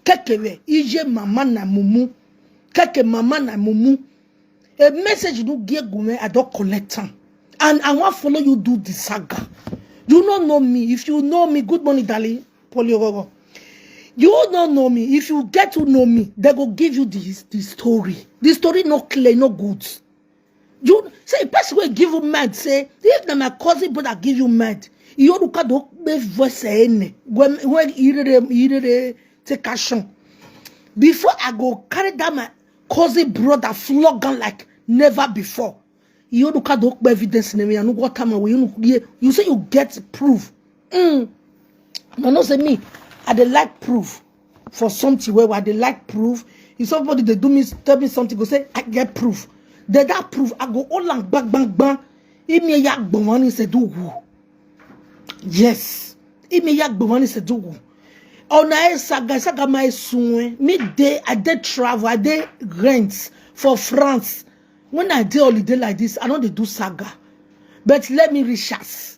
Kekere ije mama na mumu. Keke mama na mumu. A message no get gume, I don't collect am. And I wan follow you do the saga. You no know me. If you know me, good morning, darling. Poliororo. You no know me. If you get to know me, they go give you this the story. The story no clear, no good. You say a person will give you med, say, if na my cousin brother give you med, you don't look at the voice any when when you take action. Before I go carry that my cousin brother flog am like never before. You don't look at the evidence in me, I know what time away. You, know, you say you get proof. Mm. I know say me, I dey like proof. for something where I they like proof. If somebody they do me tell me something, go say I get proof. They that proof, I go all and bang bang bang. Imi ya gbomani se do who. Yes. Imi ya gbomani se do who. Ona e saga saga my sunwe. Me day I did travel, I did rent for France. When I did holiday like this, I know they do saga. But let me research.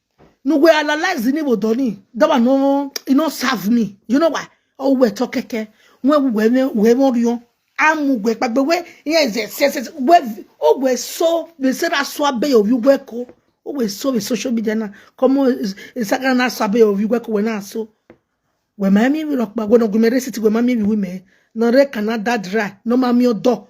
No go analyze the neighbor Donny. That one no, it no serve me. You know why? Oh, we talk keke. We we we we more you. Amu we but we yes yes yes yes. We oh we so we say that swabe of you we ko. Oh we so we social media na. Come on, Instagram na swabe of you we ko we na so. We mami we rock ba we no gumere city we mami we we me. No re Canada dry. No mami odo.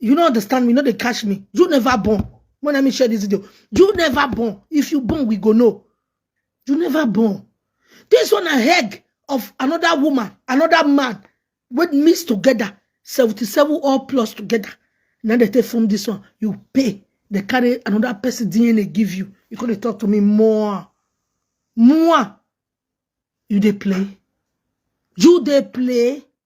you no understand me no dey catch me you never born when let me share this video you never born if you born we go know you never born this one na egg of another woman another man wey mix together seventy-seven all plus together na dey take form this one you pay dey carry another person dna give you you come dey talk to me more more you dey play you dey play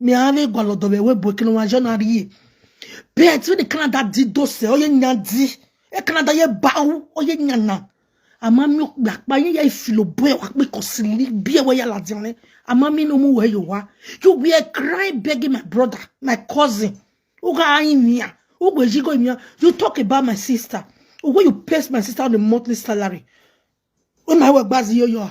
me ale gwalo do we bo kinu wa jona ri bet we the canada di do se oye nya di e canada ye ba o oye nya na ama mi gba pa yin ye filo bo e wa pe ko si li bi e we ya la di ne ama mi no mu we yo wa you we are cry begging my brother my cousin u ga ayin ni ya u gbe ji go mi ya you talk about my sister when you pay my sister on a monthly salary o na we gba zi yo yo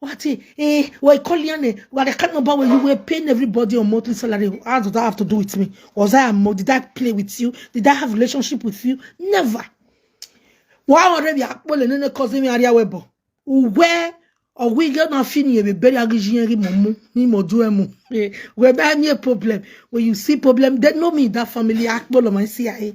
What eh, eh, we're calling on eh, what I can't remember when you were paying everybody on monthly salary. How does that have to do with me? Was I a mo- did I play with you? Did I have relationship with you? Never. Why already akpole nene cause me area webo? Where or we get na fini ebe beri agijiyeri momu ni mo do emu. Eh, Where be any problem? When you see problem, they know me that family akpole my CIA.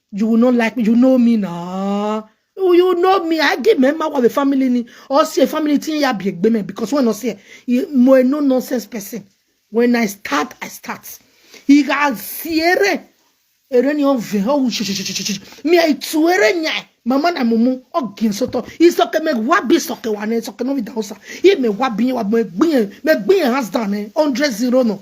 you will not like me you know me na oh, you know me i give member of the family ni or say family tin ya be egbe me because when i say mo a no nonsense person when i start i start he got siere ere ni on ve ho mi ai tuere nya mama na mumu ogin soto isoke me wa bi soke wa ne soke no bi da osa i me wa bi wa me gbin me gbin hands down eh 100 zero no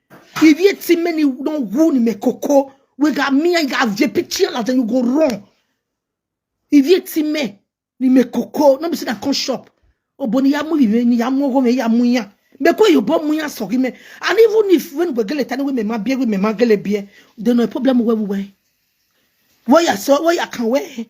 If you see many don't wound me coco, we got me and got JP chill and then you go wrong. If you see me, ni me coco, no be say that come shop. Oh, but ni yamu ni ni yamu go me yamu ya. Me ko you bom ya sorry me. And even if when we gele tani we me ma bie we me ma gele bie, then no problem we we. Where ya so where ya can we?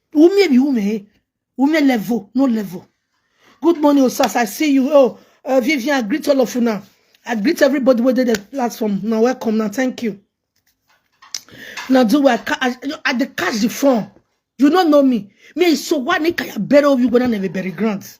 Wumie be woman, eh? Wumie level, no level. Good morning, Osas. I see you. Oh, uh, Vivian, I greet all of you now. I greet everybody within the platform. Now, welcome. Now, thank you. Now, do I, ca- I, I dey catch the phone. You don't know me. Me, so why need I bury you when I never bury grants?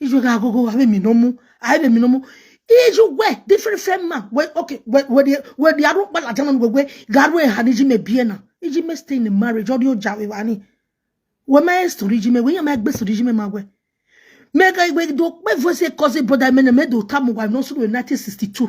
ijo da gogo wa mi no mu ai de mi no mu ijo we different friend man we okay we we the we the aru pa la jana we we garu e ha ni ji me bie na iji me stay in marriage odi o ja we wa ni we ma story ji me we ya ma gbe story ji me ma we me ga we do pe voice cause brother me na me do tamu wa no so 1962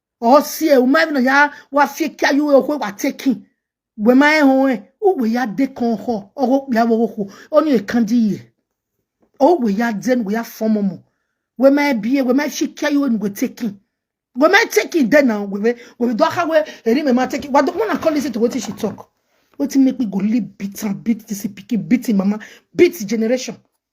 or see a woman even ya wa fi kia you we wa taking we ma e hon e u we ya de kon ho o go ya wo ho o ni e kan di ye o we ya den we ya form mo we ma e bi e we ma fi kia you we taking we ma taking then now we we we do ha we eri me ma taking what when i call listen to what she talk wetin make me go live beat and beat this pikin beat him mama beat his generation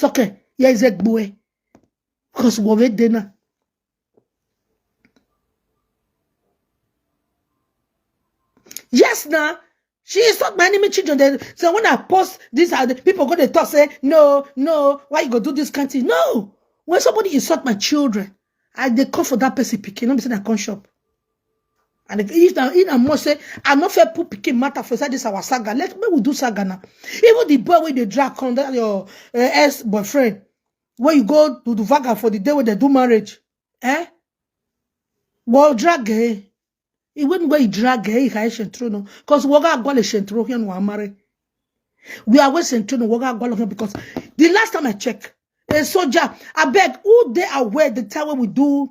sọkẹ yẹ ẹzẹ gbọ ẹ because wọ bẹ dẹ náà. yes na she is not my enemy children They- so when i post this uh, the people go dey talk say no no why you go do this kind thing no when somebody insult my children i dey call for that person pikin no be say na come shop And if if na in a must say, I no fair put pikin matter for inside this our saga. Let me we do saga now. Even the boy wey dey drag come that your uh, ex boyfriend, where you go to the vaga for the day where they do marriage, eh? Well, drag eh? He wouldn't go drag eh? He can shentro no, because waga go le shentro here no amare. We are wasting to no waga go here because the last time I check, a soldier, I beg who they aware the time when we do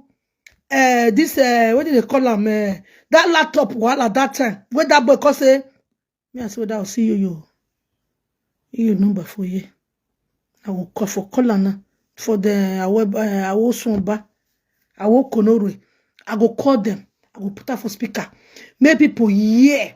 uh, this uh, what did they call am uh, that laptop wahala that time wey that boy come say me i say whether i see you you you number for you i go call for call am now for the awosunba awokonorwe i go call them i go put am for speaker make people hear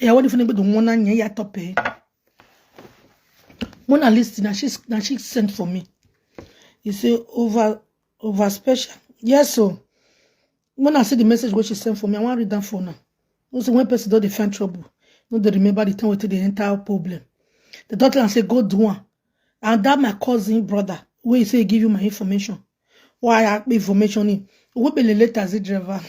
Yeah, what if you the one and ya top eh? Mona list now she now she sent for me. You say over over special. Yes, so when I see the message what she sent for me, I want to read that for now. No say when person don't defend trouble, no they remember the time we they enter problem. The doctor and say go do one. and that my cousin brother wey he say he give you my information why I information him wey be the taxi driver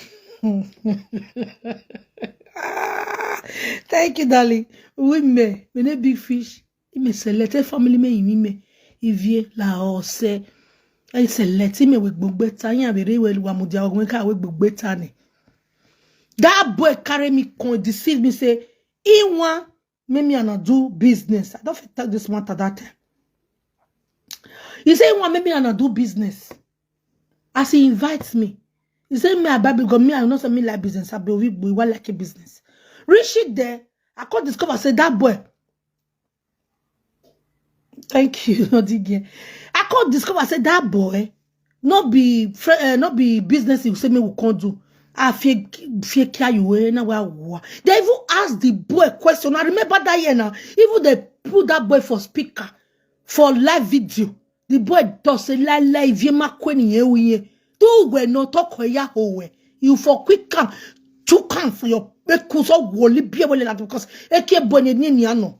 Ah, thank you darling women we no big fish ime select e family me imi me ivie la ose e select ime we gbogbo ta yin abere we wa mu dia ogun ka we gbogbo ta ni that boy carry me come deceive me say he wan make me and I do business. I don't fit talk this matter that time. He say he want make me and I do business. As he invites me, he say me I buy because me I know say me like business. I be we we want like a business. Reach it there, I come discover say that boy Thank you, Odige. I can't discover, say that boy, not be fr- uh, not be business you say me we can't do. I fear fear care you eh, na wa wa. They even ask the boy question. I remember that year now. Even they put that boy for speaker for live video. The boy does say la la if you ma kweni ye we ye. Do we no talk we ya ho we. You for quick come to come for your because of woli be wole la because eke bone ni ni ano.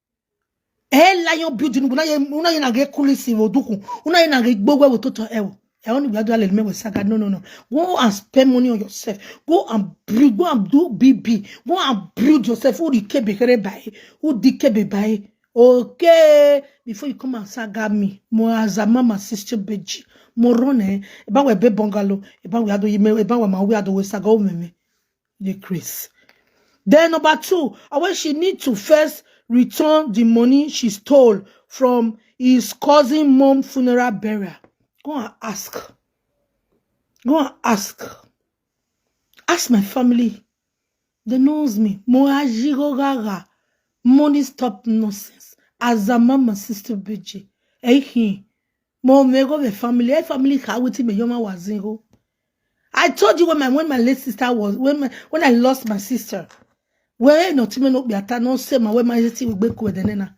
e la yon building una ye una ye na ge kulisi wo duku una ye na ge gbogbo wo toto e wo e oni gba do ale me wo saga no no no go and spend money on yourself go and build go and do bb go and build yourself who the kebe kere by who the kebe by okay before you come and saga me mo azama my sister beji mo run eh e ba we be bungalow e ba we ado yime e ba we ma we ado we saga o meme dey craze. Then number two, when she need to first return the money she stole from his cousin mom funeral burial. Go and ask. Go and ask. Ask my family. They knows me. Moajirogara. Money stop nonsense. As a mama sister BG. Hey, mo me go be family. Hey, family ka witi me yoma wazingo. I told you when my when my late sister was when my, when I lost my sister. Where no time no be ata no say my where my sister will be with the nana.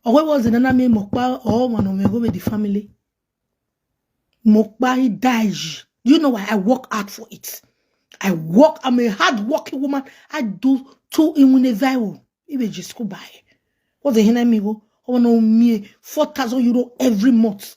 Or where was the nana me mokpa or one of me go with the family. Mokpa he died. Do you know why I work hard for it? I work. I'm a hard working woman. I do two in one viral. Even just go buy. What the hell I mean? Oh, no me four thousand euro every month.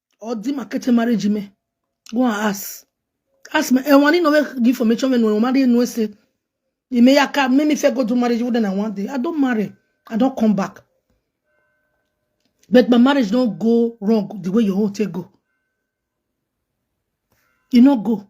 Or di ma keche marriage me. Go and ask. Ask me. And one in no give information when no marry no say. You may aka make me fair go to marriage wouldn't I want day. I don't marry. I don't come back. But my marriage don't go wrong the way your own take go. You no go.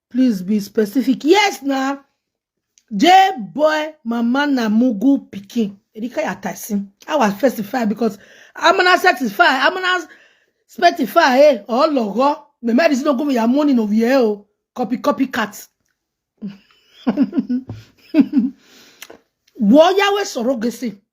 Please be specific. Yes, na. J boy mama na mugu pikin. Erika ya taisin. I was specify because I'm gonna satisfy. I'm gonna specify. Eh, oh logo. Me mad is not going your money no here. Oh, copy copy cut. Wo yawe soro gesi.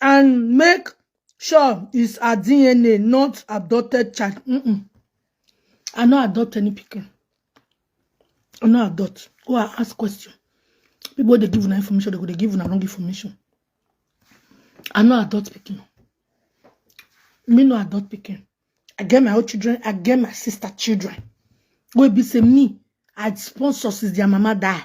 and make sure it's her DNA, not adopted child. Mm -mm. I no adopt any pikin. I no adopt. Go and ask question. People they give una information, they go they give una wrong information. I no adopt pikin. Me no adopt pikin. I get my own children, I get my sister children. Wey be say me, I sponsor since their mama die.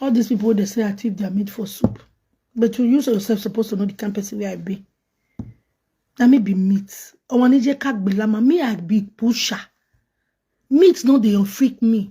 all these people they say i thief their meat for soup but you use yourself supposed to know the kind person where i be na me be meat ọmọ níjẹ ká gbé lámà me i be pusher meat no dey freak me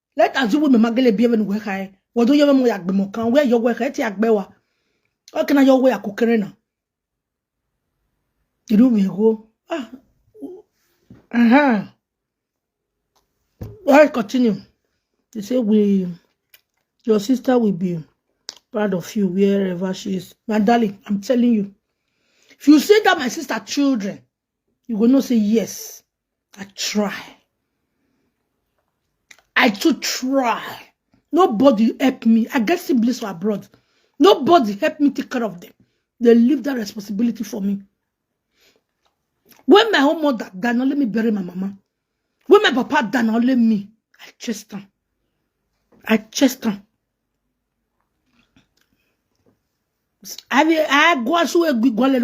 let us do women magele be even work high what do you even work be more can where your work at yak bewa how can I your work kukerena you do me go ah uh-huh all right continue they say we your sister will be proud of you wherever she is my darling I'm telling you if you say that my sister children you go know say yes i try i too try nobody help me i get siblings for abroad nobody help me take care of them they leave that responsibility for me when my own mother die na only me bury my mama when my papa die na only me i chased am i chased am I will I go as we go let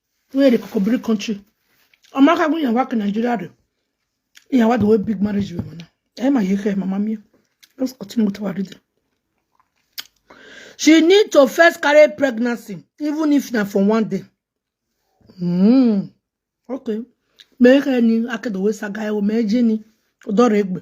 Where the Kokobri country. Amaka go yan work in Nigeria do. Yan what the way big marriage women now. Eh my yeke mama mi. Let's continue with our reading. She need to first carry pregnancy, even if na for one day. Mm. Okay. Make any akedo we saga e o meje ni. Odore egbe.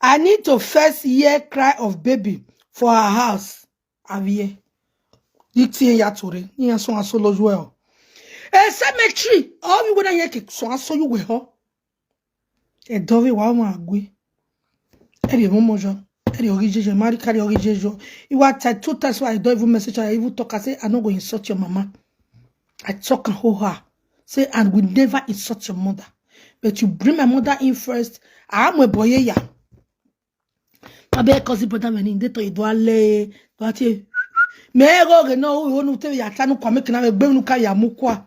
I need to first hear cry of baby for her house. Avie. Itie ya tore. Ni aso aso lo well. A cemetery. All you gonna hear ki so aso you we ho. E dove wa mo agwe. E de mo mojo. E de ori jeje. Mari kari ori jeje. You were tied two times why I don't even message her. I even talk. I say I no go insult your mama. I talk and hold her. Say, and we never insult your mother. But you bring my mother in first. I am a boy. Yeah. Tabe cousin brother when in data you do ale. Do ati. Me go ge no wo nu te ya tanu kwa me kina me gbe nu ka ya mu kwa.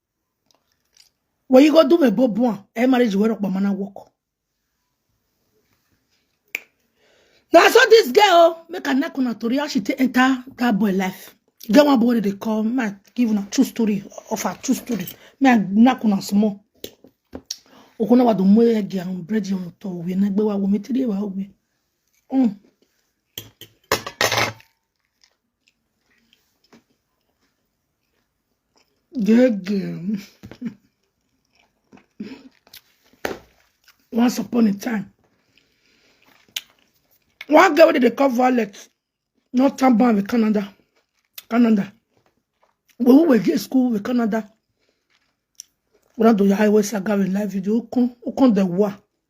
When you go do me bobuan, eh marriage where up mana walk. Now I saw this girl make a knock on her tori how she take enter that boy life. E Get one boy that they call man give una true story of her true story. Me I knock on her small. Okuna wa do mo ye gi am bread yam to we na gbe wa wo mi tiri wa we. Mm. Good girl. Once upon a time, one girl wey dey call Violet no turn born with Canada. Canada. When we were in school with Canada, we don do the highway saga with live video. Ukun, ukun the war.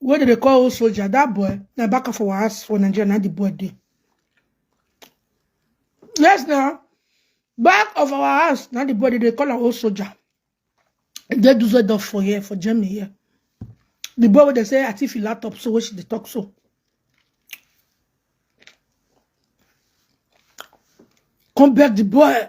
wey dem dey call old soldier that boy na back for our house for nigeria na the boy dey yes na back of our house na the boy dey dey call am old soldier e dey dusseldorf for here for germany here the boy wey dey say atifi laptop so wey she dey talk so come beg the boy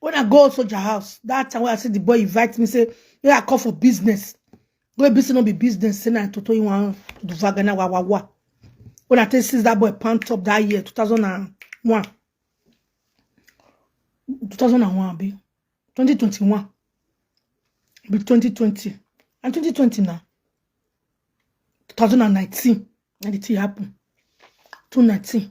When I go soldier house, that time when I see the boy invite me, say, yeah, I call for business. Go business not be business, say na toto you want to do vagana wa wa wa. When I tell since that boy pant up that year, 2001. 2001 be 2021 be 2020 and 2020 now 2019 and the thing happen 2019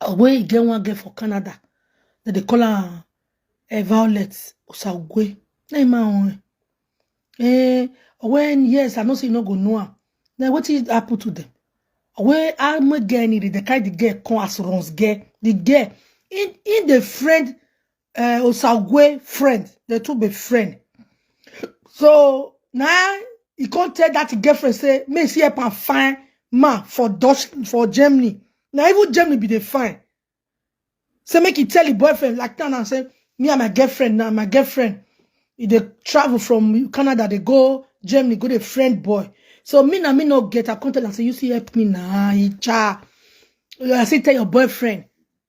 Ogwe e get one girl for Canada. That they call her uh, Violet Osagwe. Na him own. Eh, when yes, I know say you no go know her. Then what did happen to them? Where I make girl need the kind the girl come as runs girl. The girl in in the friend uh, Osagwe friend. They two be friend. So now he can't tell that girlfriend say, me see help and find ma for Dutch for Germany. Now even Germany be the fine. Say make he tell the boyfriend like that and say, me and my girlfriend now, my girlfriend. If they travel from Canada, they go Germany, go the friend boy. So me na me no get. I come tell am say you see help me na icha. I say tell your boyfriend.